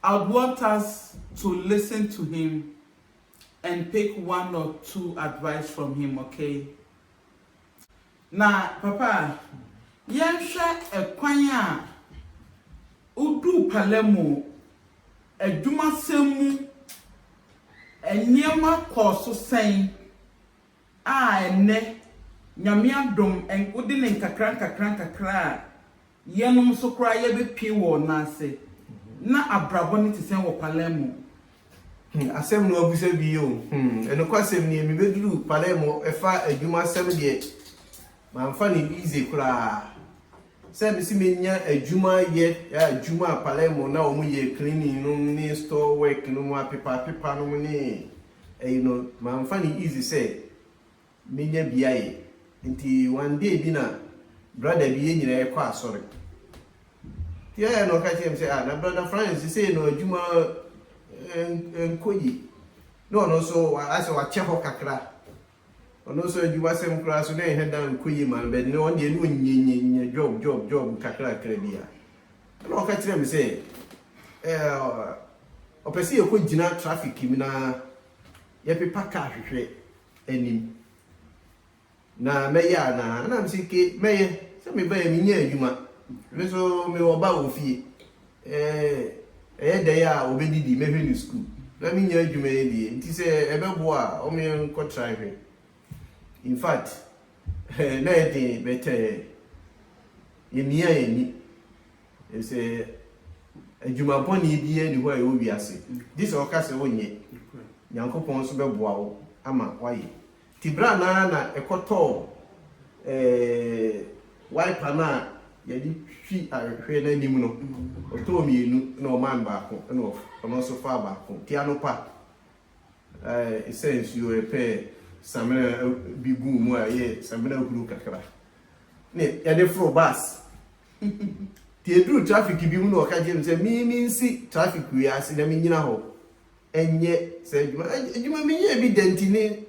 I would want us to listen to him and pick one or two advice from him okay na papa yɛnhwɛ ɛkwan a woduu Palermo adwumasɛm mu nneɛma kɔɔ so sɛn A ɛnnɛ, Nyame adom, wode no nkakrankakra a, yɛnom nso koraa yɛbɛpue wɔ Ɔno ase. Na abrabɔ no te sɛn wɔ Palermo? Hmm, asɛm na woabisa bi yi o. Hmm, nokwasɛm nie, mebɛduruu Palermo, ɛfa adwumasɛm deɛ, mamfa no easy koraa. Sɛ mese mɛnya adwuma ayɛ, a, adwuma a Palermo na wɔyɛ cleaning nom ne store work nom, apepapepa nom ne Eyi no mamfa no easy sɛ menya bi ayɛ nti one day bi na brada bi yɛn nyinaa yɛkɔ asɔre nti ɛyɛ na ɔka kyerɛ me sɛ ah na brada Frank sesei no adwuma ɛnkɔ yi na ɔno nso asɛ wakyɛ hɔ kakra Ɔno nso adwumasɛm koraa so na ɛnhɛ da nkɔ yie ma no but ɔno deɛ ne ɔnyɛ nyɛ nyɛ job job job nkakrakra bi a. Ɛna ɔka kyerɛɛ me sɛ eh, ɔpɛ sɛ yɛkɔ gyina traffic mu na yɛpepa car hwehwɛ anim na mɛyɛ anaa ɛna me sɛ ke mɛyɛ sɛ mebaeɛ menyɛ adwuma me nso mewɔ ba wɔ fie Ɛɛ, ɛyɛ dɛn a obedi de, mɛhwɛ no sukuu. Na minnya adwuma yɛ deɛ, nti sɛ ɛbɛboa a, ɔma yɛnkɔtra nhwɛ. In fact, na ɛyɛ den, but ɛɛ, yemia yɛn ani, efisɛ adwuma bɔne biara nni hɔ a ɛwɔ wiase, gye sɛ woka sɛ wonyɛ. Nyankopɔn nso bɛboa wo ama woayɛ. Ntsi ber a nara na ekɔtɔɔ wiper no a yɛdze twi ahwehwɛ no anim no, ɔtɔɔ mienu na ɔmaa no baako na ɔno so faa baako. Ntsi anɔpa esaa nsuo, yɛpɛɛ samena bi guu mu a ɔyɛɛ samena huru kakra na yɛdze foroo bus. Ntsi eduruu traffic bi mu na ɔka kyerɛɛ me sɛ minsi traffic wei ase na minyina hɔ ɛnyɛ saa adwuma adwuma menyɛɛ bi da nti ne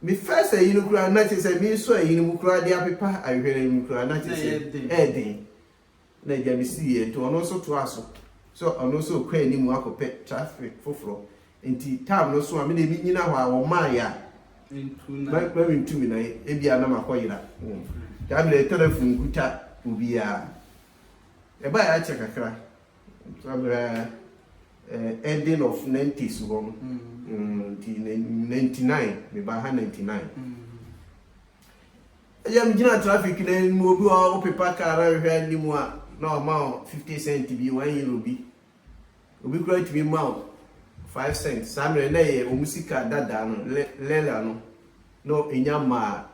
me first ayi no koraa na kyerɛ sɛ meresɔ ayi no mu koraa de apepa ahwehwɛ no mu koraa na kyerɛ sɛ ɛyɛ den na agya me si yɛ nti ɔno nso toa so sɛ ɔno nso kɔ anim akɔpɛ traffic foforɔ nti tam no so a me deɛ menyina hɔ a wɔmaa yɛ a ma mentumi na ebi a na makɔ yera daa mmerɛ telephone kuta obiara ɛba yɛ akyɛ kakra Aberaa ɛɛ ending of nineties hɔ no nti ninety nine mebaa ha ninety nine ɛyɛ me gyina traffic na anim obi wɔ hɔ ɔpepa car na nhwɛ anim a na ɔma o fifty cent bi one euro bi obi kura tumi ma o five cent saa mmerɛ na ɛyɛ wɔn sika dada no le lela no na enya maa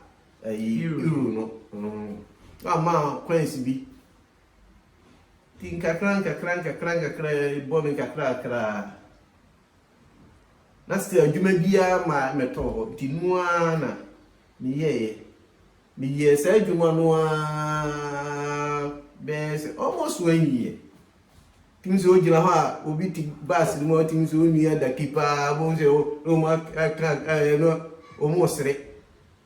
ɛyi euro no na ɔma coins bi Nti nkakra nkakra nkakra nkakra bɔ me nkakrakra na still adwuma biara ma mɛtɔ hɔ nti no ara na meyɛeɛ meyɛɛ saa adwuma no ara bɛyɛ sɛ almost one year tumi sɛ ogyina hɔ a obi te bus no mu a tumi sɛ onua daki paa bɔn sɛ wɔn aka ɛɛ no wɔn resere.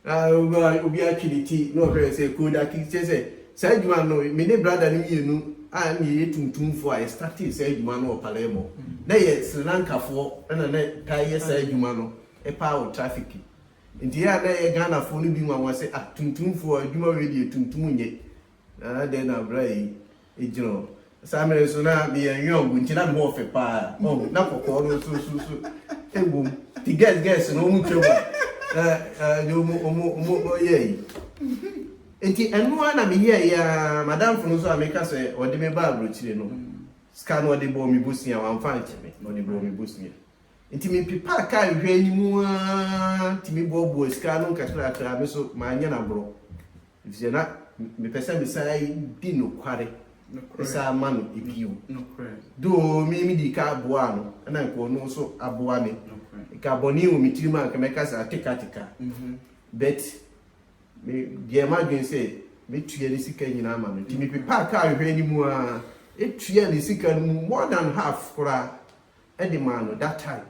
Na ɔma obiara twe ne ti na ɔhwɛ no sɛ Kodaki, kyerɛ sɛ, saa adwuma no, me ne brada no mmienu a na yɛyɛ tuntumfoɔ a yɛstartee saa adwuma no wɔ Palermo. Na yɛ Sri Lankafoɔ na na ɛtaa yɛ saa adwuma no paa wɔ traffic. Nti yɛ a na ɛyɛ Ghanafoɔ no bi nwanwa sɛ, ah, tuntumfoɔ, adwuma wei deɛ tuntum nyɛ. Na adɛn na abura yi gyina hɔ? Saa mmerɛ nso na meyɛ nweɔngo nti na me ho ɔfɛ paa ɔho na kɔkɔɔ no nso nso nso wɔ mu nti gɛs gɛs no wɔn twɛ mu a ɛɛ wɔn wɔn wɔn yɛ yi nti ɛno ara na meyɛ yɛ aa madamfo no nso a meka sɛ ɔde me ba aburokyire no sika no ɔde bɔɔ me bosia wɔn anfa ankyɛ me ɔde bɔɔ me bosia. Ntsi mepepaa kaar nhwɛe no mu ara tumi boaboaa sika ano nkakrakra, me so mannyɛ no agorɔ, efisɛ na mepɛ sɛ mesan di nokware san ma no bio. Though me midii kan boaa no, na anka ɔno nso aboa me. Nka bɔne wɔ me tirim a, anka mɛka sɛ atekateka. But meyɛɛ m'adwene sɛ mɛtua ne sika nyinaa ama no. Nti mepepaa kaar nhwɛe no mu ara tuaa ne sika no mu more than half koraa. de maa no that time.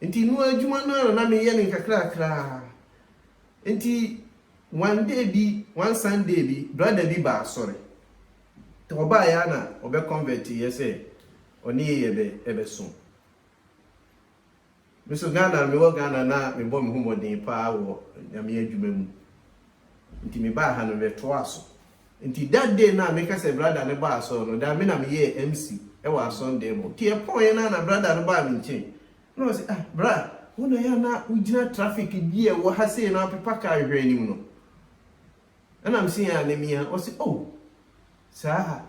Nti no adwuma no ara na na meyɛ no nkakrakra. Nti one day bi, one Sunday bi, brother bi baa asɔre. Nti ɔbaeɛ ara na ɔbɛ convert yɛ sɛ ɔne yɛ yɛbɛ yɛbɛsom. Me nso Ghana, mewɔ Ghana na mebɔ me ho mmɔden paa wɔ Nyame adwuma mu nti me baa ha no me toaa so nti that day no a me ka sɛ brada no baa asɔre no daa me na me yɛɛ MC wɔ asɔndan mu nti ɛpɔɔɛ no a na brada no baa me nkyen na ɔse ah bra wo na yɛ a na wo gyina traffic bi a ɛwɔ ha sei no apepa car hwɛ anim no Ɛna mese yɛn anamia, ɔse oh saa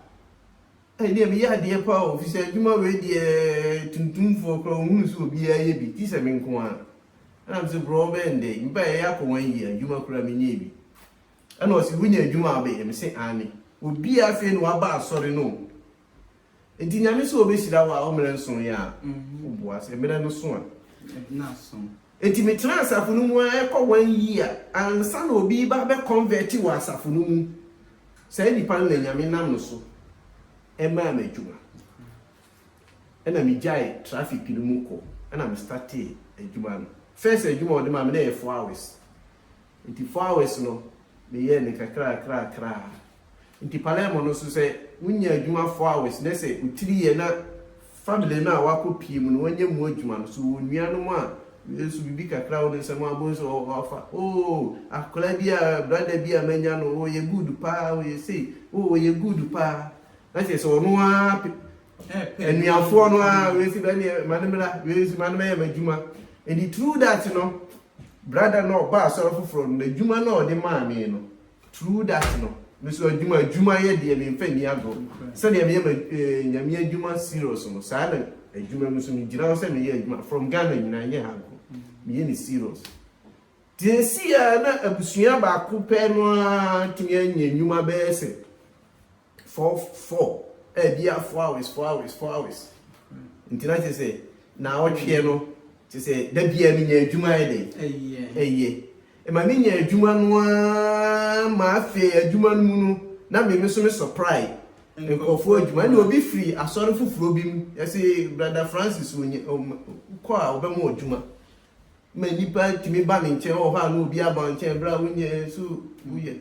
ɛdeɛ meyɛ adeɛ paa o, fisɛ adwuma wei deɛ tuntumfoɔ koraa ɔhunu sɛ obiara yɛ bi, tisɛ me nko ara. Ɛna mese brɔ wobɛyɛ no dɛn, meba yɛyɛ akɔ one year adwuma koraa menyɛɛ bi. Ɛna ɔse wonya adwuma a wobɛyɛ, mese aane. Obiara afei na waba asɔre no o. Nti Nyame sɛ ɔbɛhyira wo a ɔmmerɛ nson yɛ a, wo boa sɛ mmerɛ no so a. Nti me tena asafo no mu a ɛkɔ one year ansa na obi ba bɛ convert wɔ asafo no mu. Saa nipa no na Nyame nam no so ɛmaa me adwuma. Ɛna me gyae traffic no mu kɔ ɛna me startee adwuma no. First adwuma a ɔde maa me na ɛyɛ four hours Nti four hours no me yɛɛ no kakrakrakraa. Nti Palermo no nso sɛ wo nya adwuma four hours na sɛ wo tiri yɛ na family no a w'akɔ pie mu no w'anya mu adwuma no so wɔ nua nom a nso biribi kakra wɔ ne nsa mu a w'abɔ nso wɔ fa oo akwadaa bi a brother bi a m'anya no oo ɔyɛ good paa ɔyɛ sei oo ɔyɛ good paa na kyerɛ sɛ ɔno ara pɛ anuafoɔ no ara wei si bɛ neɛ ma ne mmra wei si ma ne mɛyɛ m'adwuma and through that no Brada no a ɔbaa asɔre foforɔ no, n'adwuma no a ɔde maa me no, true that no, me nso adwuma, adwuma yɛ deɛ memfa nni agorɔ. Sɛdeɛ meyɛ me eh, Nyame adwuma serious no, saa na adwuma mu nso megyina hɔ sɛ meyɛ adwuma from Ghana nyinaa, nyɛ ha nko, meyɛ ne serious. Nti ɛsii a na abusua baako pɛ no ara tumi anya nnwuma bɛyɛ sɛ Four four ɛɛ bia four hours four hours four hours nti na kyerɛ sɛ naawɔtweɛ no kyerɛ sɛ da biara menya adwuma ayɛ dɛn ɛyɛ ɛma menya adwuma no ara ma afei adwuma no mu no na me me so me supply nkurɔfoɔ adwuma ɛna obi firi asɔre foforɔ bi mu yɛse brada Francis kɔ a ɔbɛma adwuma ma nnipa tumi ba ne nkyɛn wɔ hɔ a na obi aba nkyɛn bere a wonyɛ nso woyɛ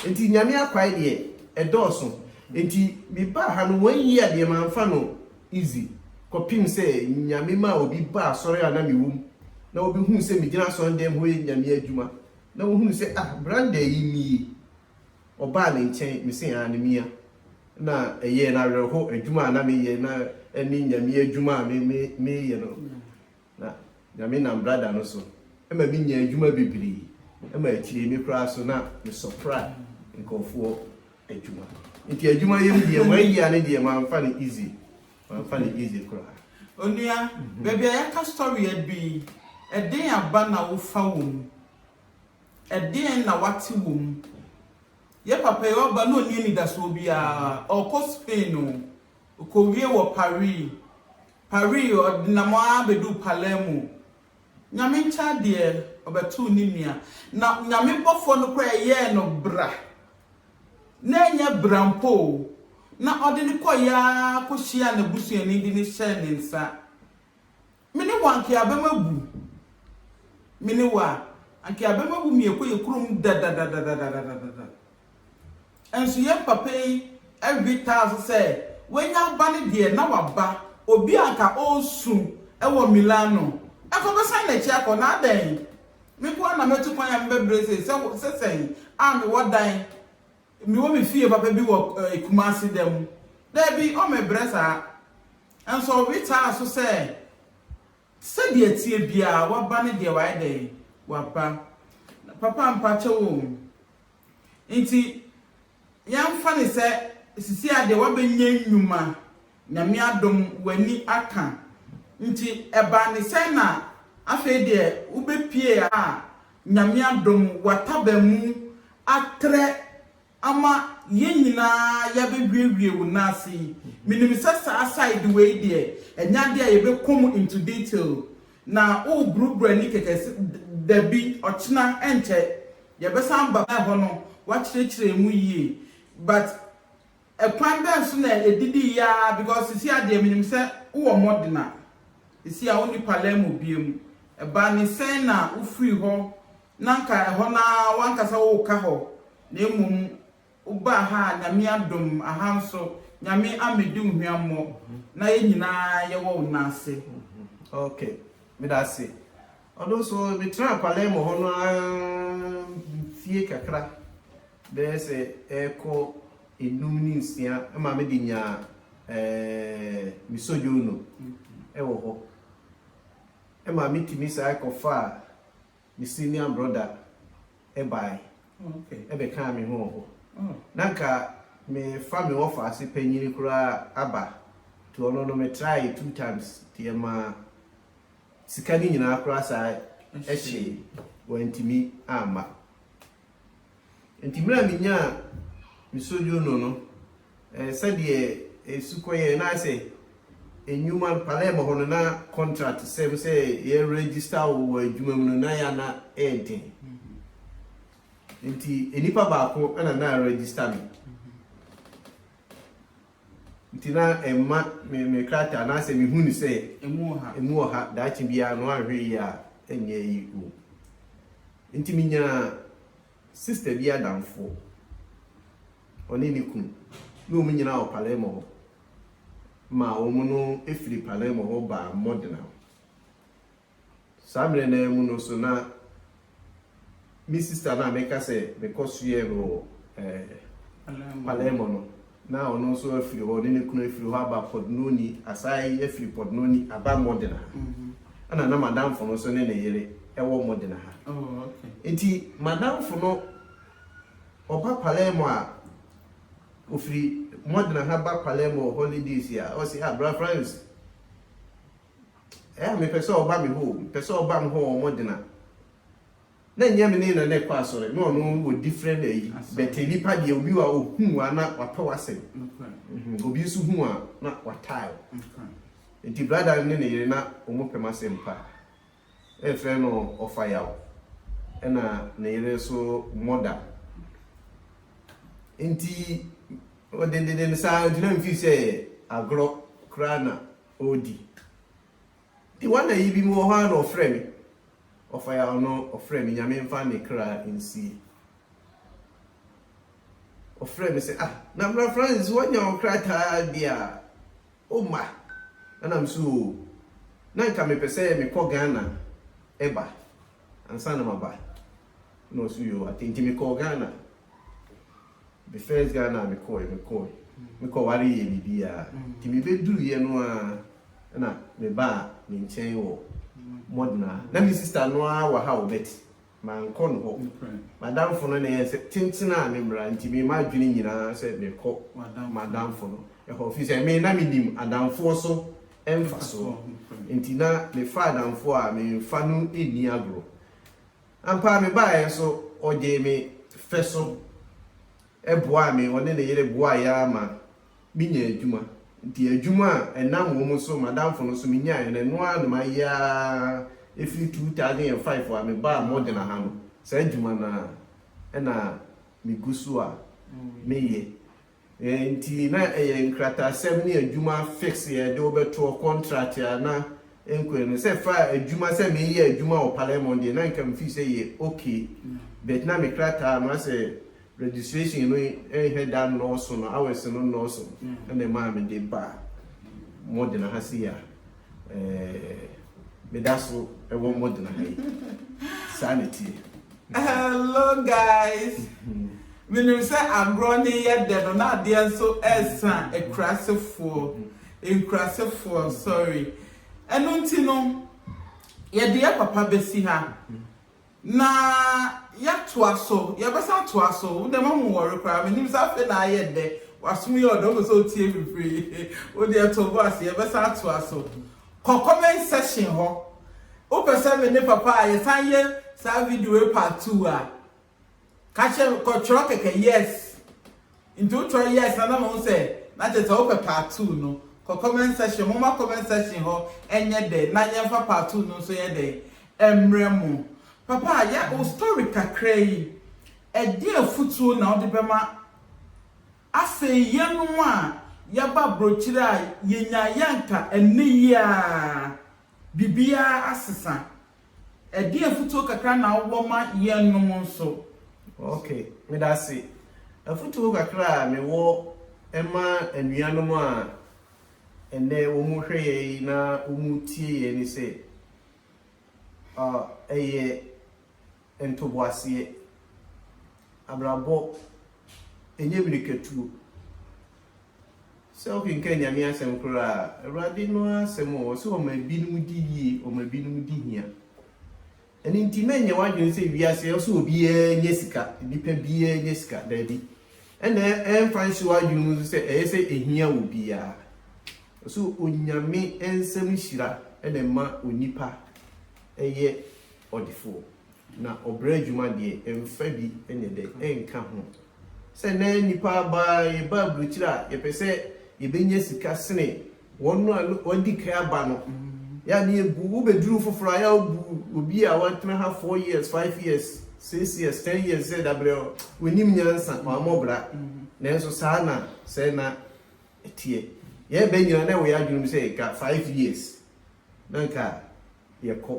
nti Nyame akwae deɛ ɛdɔɔso nti me baa ha no one year deɛ manfa no easy kɔpem sɛ Nyame maa obi baa asɔre a na me wom na wɔbɛhuu sɛ me gyina asɔre dɛm hɔ yɛ Nyame adwuma na wɔhunu sɛ ah Branda yi nie ɔbaa ne nkyɛn me se aane mea na ɛyɛɛ no awerɛho adwuma a na meyɛ na ɛne Nyame adwuma a me me meyɛ no. Na Nyame nam brada no so ma me nyaa adwuma bebree ma akyire me koraa so na me sɔpra nkorɔfoɔ adwuma. Nti adwuma yɛm deɛ one year no deɛ manfa no easy, manfa no easy koraa. Onua, baabi a yɛaka story adu yi, ɛdeɛn aba na wofa wɔ mu? Ɛdeɛn na wate wɔ mu? Yɛ papa yi ɔba na ɔnni anidasoɔ biara, ɔɔkɔ Spain o, ɔkɔwie wɔ Paris, Paris ɔdenam ara bɛduu Palermo. Nyame nkyɛn adeɛ, ɔbɛtoo ne nua. Na Nyame bɔfoɔ no koraa ɛyɛɛ no bra, na ɛnyɛ bra mpo o, na ɔde no kɔeɛ ara kɔhyiaa n'abusuani de no hyɛɛ ne nsa. Me ne wo anka yɛabɛm abu, me ne wo a, anka yɛabɛm abu mmiako yɛ kurom dadadadadadadadada. Nso yɛn papa yi we taa so sɛ wanya aba no deɛ na waba, obi a anka ɔresu wɔ Milano nso ɔbɛsan n'akyi akɔ na adɛn? Me nko ara na matu kwan a mebɛbrɛ sei sɛ sɛ sɛn a mewɔ dan, mewɔ me fie papa bi wɔ Kumasi da mu. Daabi, ɔmmebrɛ saa. Nso ɔwe taa so sɛ sɛdeɛ ɛteɛ biara waba no deɛ wayɛ dɛn? Waba. Papa mpakyɛw o, Ntsi yɛmfa no sɛ seseiara deɛ woabɛnya nnwuma, Nyame adom w'ani aka, ntsi ɛbaa no sɛn na afei deɛ wobɛpue a Nyame adom w'ataban mu atrɛ ama yɛn nyinaa yɛabɛhwiewie wo nan ase yi? Menim sɛ saa side wei deɛ ɛnyɛ adeɛ a yɛbɛkɔ mu into detail, Na wo brubra ni kɛkɛ sɛ dabi ɔkyena ɛnkyɛ yɛbɛsan ba hɔ no wakyerɛkyerɛ emu yie but ɛkwan bɛn so na ɛdidi yɛ ara because sisi a deɛ menim sɛ wowɔ modena sisi a wonni Palermo biom ɛbaa ne sɛn na wofiri hɔ na nka ɛhɔ no ara wankasa woka hɔ na mmom Wo baa ha a Nyame adom aha nso Nyame ammedi wo hweammɔ na yɛ nyinaa yɛwɔ wo nan ase. Ok meda ase. Ɔno nso me traa Palermo hɔ no ara mfie kakra bɛyɛ sɛ ɛrekɔ enum ne nsia ma me de nyaa eh, me sojourno wɔ hɔ ma me tumi san kɔ faa me senior brother bae bɛkaa me ho wɔ hɔ. Na anka merefa me wɔfaase panyin koraa aba, nti ɔno no metrae two times nti ɛmaa sika no nyinaa koraa san kyee, wantumi amma. Enti mmerɛ a menyaa me sojourno no, eh, sɛdeɛ ɛsu kɔeɛ na ayɛ sɛ nnwuma no, Palermo hɔ no na contract sɛm sɛ yɛ register wo wɔ adwuma mu no na yɛ a na ɛyɛ den. Enti nnipa baako na na register me. Nti na ɛmma me me krataa anaasɛ mehu no sɛ ɛmu wɔ ha, ɛmu wɔ ha daakye biara no anhwɛ yie a ɛnyɛ ayi wɔ mu. Nti menyaa sista bi adamfoɔ, ɔne ne kunu, na wɔn nyinaa wɔ Palermo hɔ, ma wɔn no firi Palermo hɔ baa Modena. Saa mmerɛ no ara mu no nso na me sista no a meka sɛ mekɔsoɛɛ no wɔ Palermo no, na ɔno nso afiri hɔ, ɔne ne kunu afiri hɔ aba Pordenone, asan afiri Pordenone aba Modena ha. Ɛna na m'adamfo no nso ne ne yere wɔ Modena ha. Enti m'adamfo no, ɔba Palermo a, ɔfiri Modena ha ba Palermo holidays a, ɔse, ah, Bra Franz, Ɛyɛ a mepɛ sɛ ɔba me hɔ o, mepɛ sɛ ɔba me hɔ o, wɔgyina. Na ɛnyɛ me ne no na ɛkɔ asɔre, na ɔno wɔ different ayi, but nnipa deɛ obi wɔ a ɔhu wo a na wapɛ w'asɛm. Obi nso hu wo a na wataa wo. Nti brada no ne ne yere na wɔpɛ m'asɛm pa. Na yɛfrɛ no Ɔfayaw, ɛna ne yere nso Mɔda. Nti ɔdendenden saa nti na mefii sɛ agorɔ koraa na ɔredi. Nti wɔn na yi bi mu wɔ hɔ a na ɔfrɛ me, ɔfa yɛ ano ɔfrɛ me Nyame mfa ne kra nsie. Ɔfrɛ me sɛ ah na Bra Francis wɔanya wo krataa deɛ a womma? Na nam so oo na nka mepɛ sɛ mekɔ Ghana ba ansa na maba. na ɔse yoo ate nti mekɔɔ Ghana the first Ghana a mekɔɔɛ mekɔɔɛ mekɔware yɛ biribiaa nti mebɛduruiɛ no a na mebaa ne nkyɛn wɔ Modena na me sister no ara wɔ ha o but mankɔ no hɔ madamfo no na ɛyɛ sɛ tenten a ne mmara nti me m'adwene nyinaa sɛ mekɔ madamfo no ɛhɔ fi sɛ me na menim adamfoɔ so mfasoɔ nti na mefa adamfoɔ a memfa no nni agorɔ Ampa ara mebaeɛ nso ɔgyee me fɛ so boaa me, ɔne ne yere boaeɛ ara ma menyaa adwuma. Nti adwuma a ɛnam wɔn so, m'adamfo no nso menyaeɛ no, ɛno ara na mayɛ ara ɛfiri 2005 a mebaa Modena ha no, saa adwuma no ara na megu so a meyɛ. Enti na ɛyɛ nkratasɛm ne adwuma fix yɛ de wo bɛtoɔ contract a na ɛnkɔɛ no sɛ fa adwuma sɛ me yɛ adwuma wɔ Palermo deɛ na nka me feel sɛ yɛ ok but na me krataa no asɛ registration no nhɛ da nnɔɔso no hours no nnɔɔso ɛna ɛmaa me de baa modena ha sei a. meda so wɔ modern ha yi saa na tie hello guys menim sɛ agorɔ ne yɛ dɛ no na adeɛ nso ɛsa akurasefoɔ nkurasefoɔ sorry ɛno nti no yɛdeɛ papa bɛsi ha Na yɛatoa so, yɛbɛsan atoa so. Wo deɛ mahu worry koraa, menim sɛ afei na ayɛ dɛ, w'asom yɛ ɔdɔ, wopɛ sɛ wotie me pray. Wo deɛ to wo bo ase, yɛbɛsan atoa so. Kɔ comment section hɔ, wopɛ sɛ me ne papa a yɛsan yɛ saa video yi part two a. Ka kyerɛ no, kɔ twerɛ kɛkɛ yes nti wo twerɛ yes na na mahu sɛ na kyerɛ sɛ wopɛ part two no kɔ comment section momma comment section hɔ nyɛ dɛ na yɛmfa part two no nso yɛ dɛn ɛmmerɛ mo papa yɛ wo story kakra yi ɛdeɛn afutuo na wode bɛma afei yɛnom a yɛaba abrokyire a yɛnyaeɛ anka ɛnnɛ yi ara biribiara asesa Ɛdeɛn afutuo kakra na wowɔ ma yɛnnom nso? Ok, medase. Afutuo kakra a mewɔ ma anuanom a ɛnnɛ wɔrehwɛ yɛn na wɔretie yɛn ne sɛ, ɔɔ, ɛyɛ. ntoboaseɛ. Abrabɔ ɛnyɛ mirikatuo. Sɛ wokenkan Nyame asɛm koraa a, Awurade no ara asɛm o, ɔse ɔma ebinom di yie, ɔma ebinom di hia. Ɛno nti mɛnyɛ w'adwene sɛ wiase ɔse obiara nya sika, nnipa biara nya sika, daabi. Ɛna ɛmfa nhyɛ w'adwene mu nso sɛ ɛyɛ sɛ ɛhia wɔ biara. Ɔse Onyame nsɛm hyira na ɛma onipa yɛ ɔdefoɔ, na ɔbrɛ adwuma deɛ, ɛmfa bi nyɛ dɛ, ɛnka ho. Sɛ nnɛ nnipa aba a, yɛba aburokyire a, yɛpɛ sɛ yɛbɛnya sika sene wɔn a na wɔadi kan aba no. Yɛ a na yɛbu, wobɛduru foforɔ a, yɛ a wobu obi a watena ha four years, five years, six years, ten years sɛ dabrɛ, ɔnnim nyansa, wammɔ bra. Nanso saa na sɛɛ na ɛteɛ. Yɛrebɛ nyinaa na ɛwɔ yɛn adwene mu sɛ ɛka five years. Na anka yɛkɔ,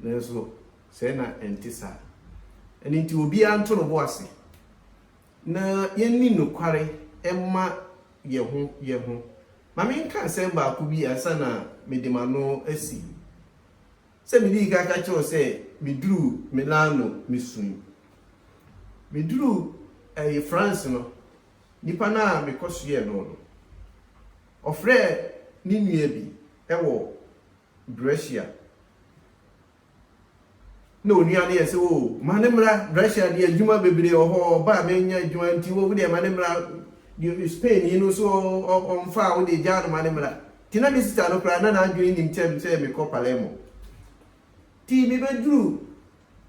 nanso sɛɛ na ɛnte saa. Ɛno nti, obiara nto ne bo ase, na yɛnni nokware mma yɛn ho yɛn ho. Ma menka asɛm baako bi ansa na mede m'ano asi. Sɛ midii kan ka kyerɛɛ wo sɛ miduruu Milano misui. Miduruu France no, nipa no a mekɔsoɛɛ no no, Ɔfrɛɛ ne nua bi wɔ Brescia na onua no yɛ sɛ, O, ma no mmra Brescia deɛ, adwuma bebree wɔ hɔ, ɔba a mennya adwuma nti, o, wo deɛ ma no mmra, deɛ Spainni no nso ɔmfa a, wo deɛ gyaa no ma no mmra. Nti na me sista no koraa, na n'adwene nnim kyɛm sɛ mekɔ Palermo. Nti mebɛduruu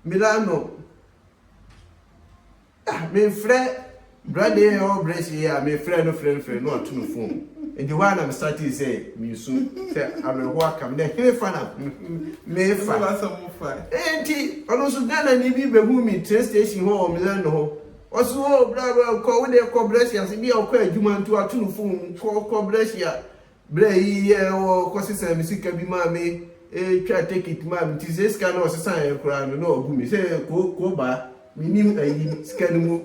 Milano. Ah me nfrɛ brane yi ɔwɔ brɛs yi a me frɛ no frɛ no frɛ no ɔto no fon nti hɔ a na me startee sɛ me su sɛ awerɛhoɔ aka me dɛ hene fa na me fa nti ɔno nso Ghana ni bi bɛhu me train station hɔ wɔ Milano hɔ ɔsi hɔ bra bra kɔ wo deɛ kɔ brɛs ase bi a ɔkɔ adwuma nti wato no fon mu kɔ kɔ brɛs a Berɛ a ɛyi yɛɛ hɔ kɔ sesaa me sika bi maa me twaa tekit maa me nti sɛ sika no ɔsesaeɛ koraa no na ɔbu me sɛ koo koo baa menim ayi sika no mu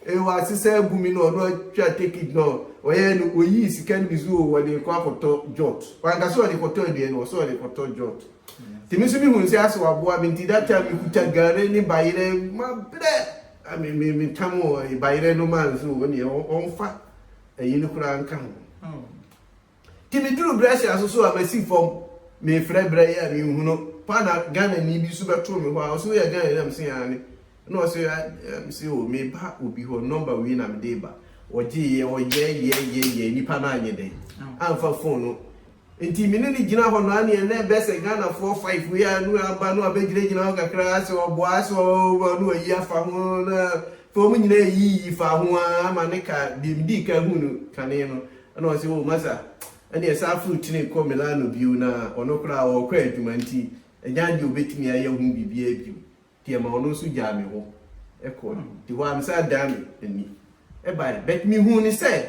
ee wasesa abu me na ɔno atwa tekit na ɔyɛɛ no ɔyii sika no bi so oo ɔde kɔ akɔtɔ jot wanka sɛ ɔde kɔtɔ aduane no ɔsɛ ɔde kɔtɔ jot nti me nso mehunu sɛ asɛ waboa me nti that time mekuta gare ne bayerɛ mabrɛ me me metam bayerɛ no maa nso ɔneɛ ɔmfa ayi no koraa nka ho. Nti meduru Brescia so so a masi fam mefrɛ berɛ yi a menhu no pa na Ghanani bi so bɛtoo me hɔ a ɔse woyɛ Ghanani na mese aane na ɔse mese o meba obi hɔ nɔmba wei na mede ba ɔgyeeɛ ɔyɛɛyɛɛyɛɛ nipa no anyɛ dɛn amfa fon no Nti me ne no gyina hɔ no anea na ɛbɛ sɛ Ghana foɔ five wei a no aba no abɛ gyina gyina hɔ kakraa sɛ ɔboa sɛ ɔɔba no wayi afa ho na afei ɔmo nyinaa yi yi faa ho aa ma ne ka deɛ me dii kan hu no kane no ɛna ɔse oh masa ɛneɛ saa foro kyene kɔ Milano bio na ɔno koraa ɔɔkɔ adwuma nti ɛgyan deɛ ɔbɛtumi ayɛ ho biribiaa bio. nti ɛma ɔno nso gyaa me hɔ kɔe. Nti hɔ ara mesan adan m'ani bae. But mihuu no sɛ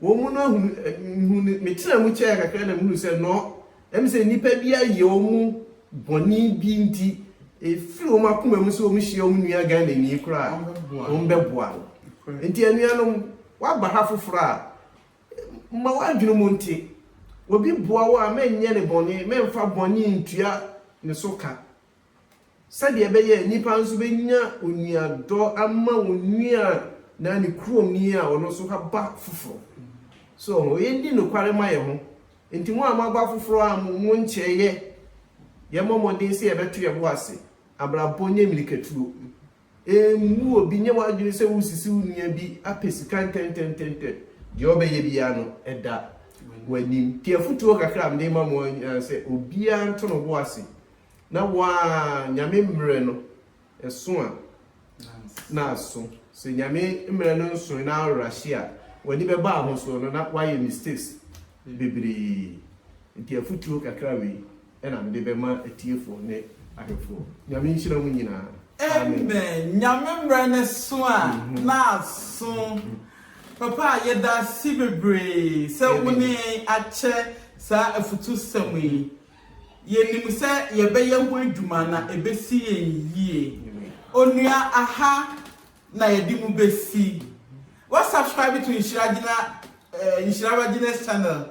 wɔn no ahunu ɛ, mihuu no, metenaa mu kyɛɛ kakra na mihuu sɛ nɔ, ɛm sɛ nnipa bi ayɛ wɔn bɔne bi nti efiri wɔn akoma mu sɛ wɔn hyia wɔn nua Ghanani koraa a, wɔn bɛboa no. Nti anuanom, woaba ha foforɔ a, ma w'adwene mu nte. Obi boa wo a, mɛnyɛ no bɔne, mɛmfa bɔne ntua ne so ka. Sɛdeɛ ɛbɛyɛ a nnipa nso bɛnya onuadɔ ama wɔn nua a na ne kurom ni a ɔno nso aba foforɔ. So ɔho? Yɛnni nokware ma yɛn ho. Nti mo a moaba afoforɔ a mo nkyɛeɛ, yɛmmɔ mmɔden sɛ yɛbɛto yɛn bo ase. Abrabɔ nyɛ mmirikatuo. Mmu obi, nyɛ w'adwene sɛ woresisi wo nua bi apɛ sika ntɛntɛntɛntɛ. Deɛ ɔbɛyɛ biara no, ɛda w'anim. Nti afotuo kakra a mede rema mo ara ne sɛ, obiara nto ne bo ase na waa Nyame mmerɛ no ɛso a, na aso. Sɛ Nyame mmerɛ no nsoe na arahye a, w'ani bɛba ahosoɔ no na woayɛ mistakes bebree. Nti afotuo kakra wei. ɛna mede bɛma atiefoɔ ne ahwɛfoɔ. Nyame nhyira mo nyinaa. Amen Nyame mmerɛ no so a na aso. Papa yɛdase bebree sɛ wo ne yɛn akyɛ saa afutusɛm yi. Yɛnim sɛ yɛbɛyɛ ho adwuma na ɛbɛsi yɛn yie. Onua aha na yɛde mo bɛsi. Wa subscribe to Nhyira Gyina Nhyira Gyina's channel